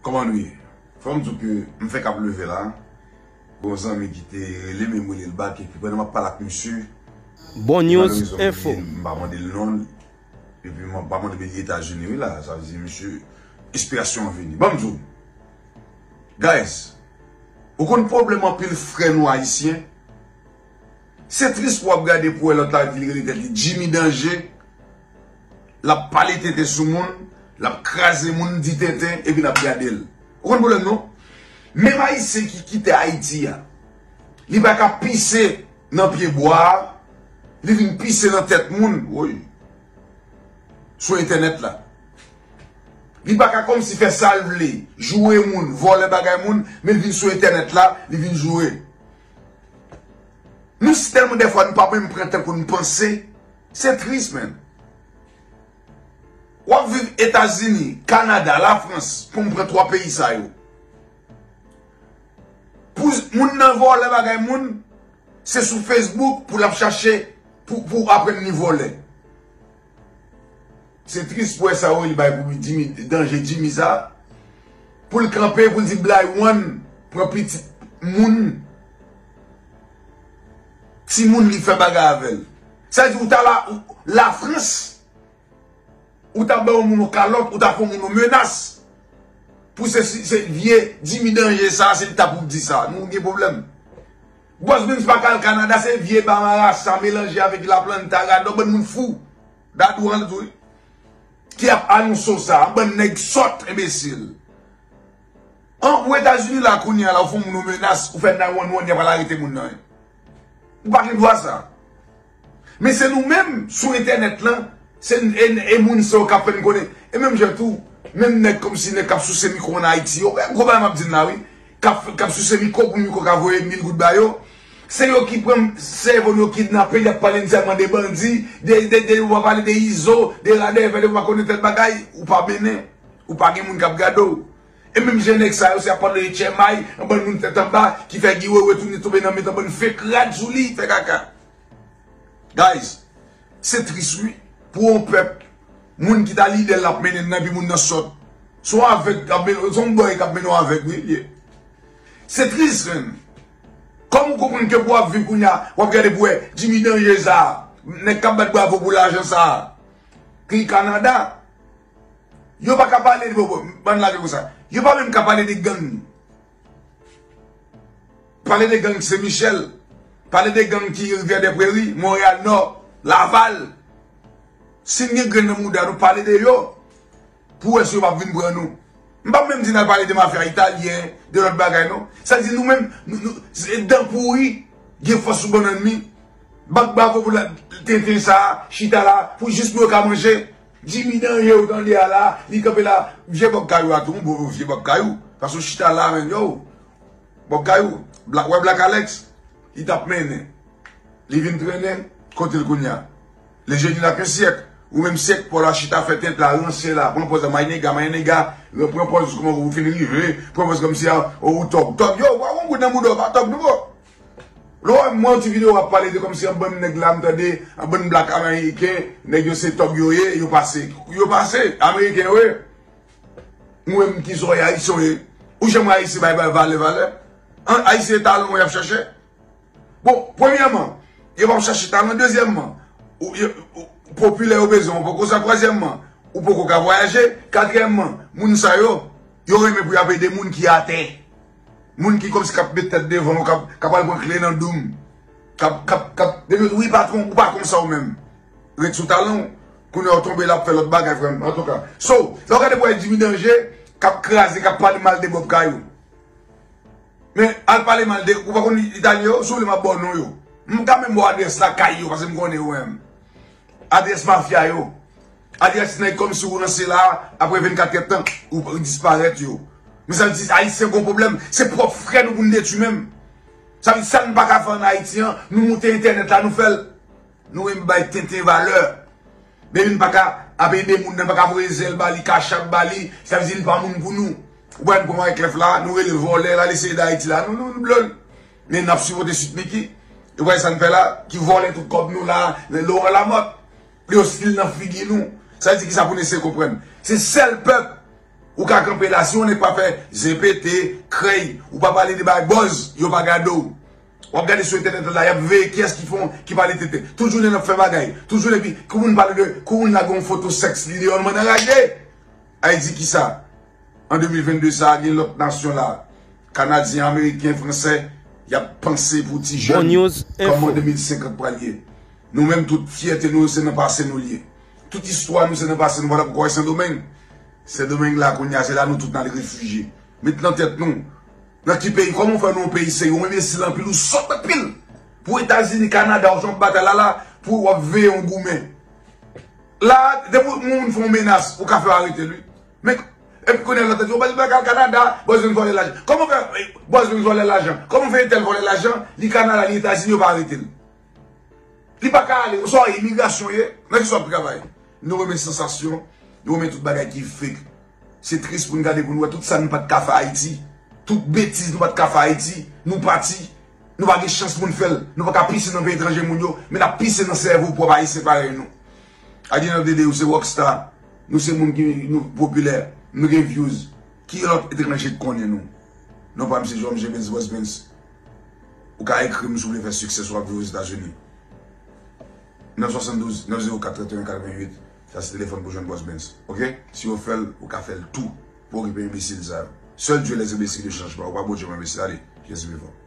Kòman nou ye? Fòm di w ke m fèk ap leve la. Gon zanmi ki te rele m e m rele l bak epi pandan m ap pale ak misye Bon News Info. M pa mande l non l epi m pa mande l peyi Etazini wi la. Sa vle di misye enspirasyon an vini. Ban m di w Guys, ou konn pwoblèm anpil frè nou Ayisyen? Se tris pou w ap gade pou w wè lòt la vin rele tèt li Jimmy Danje. Lap pale tenten sou moun, lap kraze moun, di tenten, epi nap gadel. Ou konn pwoblèm non? Menm ayisyen ki kite Ayiti a, li pa ka pise nan pye bwa, li vin pise nan tèt moun, woy, sou entènèt la. Li pa ka kòmsi fè sal vle, joure moun, vòlè bagay moun, men vin sou entènèt la, li vin joure. Nou si tèlman dèfwa nou pa menm pran tan pou nou panse. Se tris menn. Wap viv etazini, kanada, la frans pou m pran 3 peyi sa yo. Pou moun nan vòlè bagay moun, se sou facebook pou lap chache pou aprann li vòlè. Se tris pou sa yo li bay pou danje Jimmy sa. Pou l kanpe pou l di bly one pran pitit moun. Timoun li fè bagay avèl. Sa di ou ta la la France ou ta ba yon moun yon kalòt ou ta fè yon moun yon menas pou se se vye dimi danje sa se li ta pou di sa nou gen problèm. Boss Benz pa ka al Canada se vye ba marasa melanje avèk la planta gadò bann moun fou Dadou ranl tou wi ki ap anonso sa bann nèg sòt enbesil. An pou etazini la kounya la ou fon moun ou menas ou fè 911 yap al arete moun nan ou pa gen dwa sa men se nou menm sou entènèt lan se e moun sa yo kap fèn konnen e menm jan tou menm nèg komsi nèg kap souse mikro an ayiti yo gwo bagay map di la wi kap souse mikro pou mikro ka voye mil goud ba yo se yo ki pran sèvo nou yo kidnape yap pale nou sèlman de bandi de de de yo pa pale de izo de radèvè de yo pa konnen tèl bagay ou pa mennen. Ou pa gen moun kap gade w. E menm jan nèg sa yo se ap pale de chèmay, yon bann moun tèt anba ki fè Guy Wewe tounen tonbe nan mitan bann fake rad sou li, fè kaka. Guys, se tris wi pou yon pèp moun ki ta lidè l lap mennen nan epi moun nan sòt. Se yon avèg kap mennen w, se yon bòy kap mennen w avèg wi l ye. Se tris menm. Kòman w konprann ke pou w ap viv kounye a, w ap gade pou w wè Jimmy Danje sa, nèg kap bat bravo pou lajan sa, ki Kanada. Yo pa ka pale de bobo. Ban lage konsa. Yo pa menm ka pale de gang. Pale de gang Sen Michel. Pale de gang ki Rivyè de Preri, Monreyal Nò, Laval. Sin gen grenn nan mouda nou pale de yo. Pou wè si yo pap vin pran nou. M pap menm di nan pale de mafya italyen, de lòt bagay non. Sa di nou menm, se dan pouri, gen fòs sou bannann mi. Bat bravo pou tenten sa, chita la, pou jis pou yo ka manje. Jimmy danje ou tande a la li kanpe la vye bob kayou a tou m bon vye bob kayou paske ou chita la menm yow bob kayou black wè black alex li tap mennen li vin trennen kotel kounya le jeni la ken syèk ou menm syèk paw la chita fè tente la ranse la pran pòz la my nigga my nigga repran pòz kouman ou fin rive pran pòz kòmsi a ou tòg tòg yow pa ou gon goud nan boudaw pa tòg non bro. Lè w wè m mwen yon ti video wap pale de kòmsi yon bann nèg la m tande yon bann black ameriken nèg yo se tòg yo ye yo pase yo pase ameriken yo ye m wè m kisa w ye ayisyen w ye ou janm wè ayisyen bay bay valè valè an ayisyen e talan w yap chache bon premyèman yo pap chache talan dezyèmman ou yo popilè yo bezwen w poko sa twazyèmman ou poko ka vwayaje katriyèmman moun sa yo yo renmen pou yap ede moun ki atè. Moun ki komsi kap met tèt devan ou kap al pran kle nan doum kap kap kap depi yo di wi patron ou pa konsa ou menm ret sou talanw kounye ou tonbe lap fè lòt bagay frèm antouka so lè ou gade bway Jimmy Danger kap kraze kap pale mal de Bob Kayou men al pale mal de ou pa konn italyen yo si ou vle map baw non yo m ka menm baw adrès lakay yo paske m konnen yo menm adrès mafya yo. Alyas nèg kòmsi ou ranse la aprè 24 kèt tan ou disparèt yo men sa vle di ayisyen gon pwoblèm se pwòp frè nou pou n detwi menm sa vle di sa nou pa ka fè an ayiti an nou moute entènèt la nou fèl nou menm bay tenten valè men nou pa ka ap ede moun nan pa ka voye zèl ba li cash app ba li sa vle di li pa moun pou nou ou pa jwenn pwen wyclef la nou rele vòlè la li se de ayiti la nou nou nou blòl men nap sipote sweet micky ou pa wè sa nou fè la ki vòlè tout kòb nou la lè laurent lamothe. Li ostil nan figi nou. Sa di kisa pou nou eseye konprann. Se sèl pèp ou ka kanpe la si yon nèg pa fè zen pete, krèy, ou pa pale de bagay buzz, yo pa gade w. Wap gade sou entènèt la yap veye kiyès ki fon, ki pale tenten. Tout jounen nap fè bagay, tout jounen epi kou moun pale de, kou moun lage yon foto sèks li deyò nou mande anraje. Ay di kisa? An 2022 sa gen lòt nasyon la, kanadyen, ameriken, fransè, yap panse pou ti jèn kòman 2050 pral ye. Nou menm tout fyète nou yo se nan pase nou liye. Tout istwa nou se nan pase nou pa ta poko wè sendomeng? Sendomeng la kounya se la nou tout nal refije. Met nan tèt nou, nan ki peyi kòman ou fè nou yon peyi serye ou enbesil anpil ou sòt anpil pou etazini kanada ou se yon batay lala pou wap veye yon goumen. La a depi yon moun fon menas ou ka fè yo aretel wi. Men epi kounya lòt la di ou pral al Canada, Bòz vin vòlè lajan. Kòman fè Bòz vin vòlè lajan? Kòman fè entèl vòlè lajan li Canada li Etazini yo pa aretel. Li pa ka ale ou sa wè imigrasyon ye? Nan kisa wap travay? Nou renmen sansasyon, nou renmen tout bagay ki fake. Se tris poun gade poun wè tout sa nou pat ka fè Ayiti. Tout betiz nou pat ka fè Ayiti. Nou pati. Nou pa gen chans pou n fè l. Nou pa ka pise nan peyi etranje moun yo, men n ap pise nan sèvo pwòp Ayisyen parèy nou. At the end of the day, ou se rock star, nou se moun ki nou popilè, nou gen vyouz, ki lòt etranje k konnen nou? Non pa m se Jhon Jemens Bosbens. Ou ka ekri m si w vle fè siksè si w ap viv Ozetazini. 972 904 31 88, sa se telefòn pou jwenn Bosbens. Ok? Si yo fè l, ou ka fè l tou pou okipe enbesil sa yo. Sèl Dye lèzenbesil de chanjman. Ou pa Bondye m anbesi. Ale, Jezi vivan.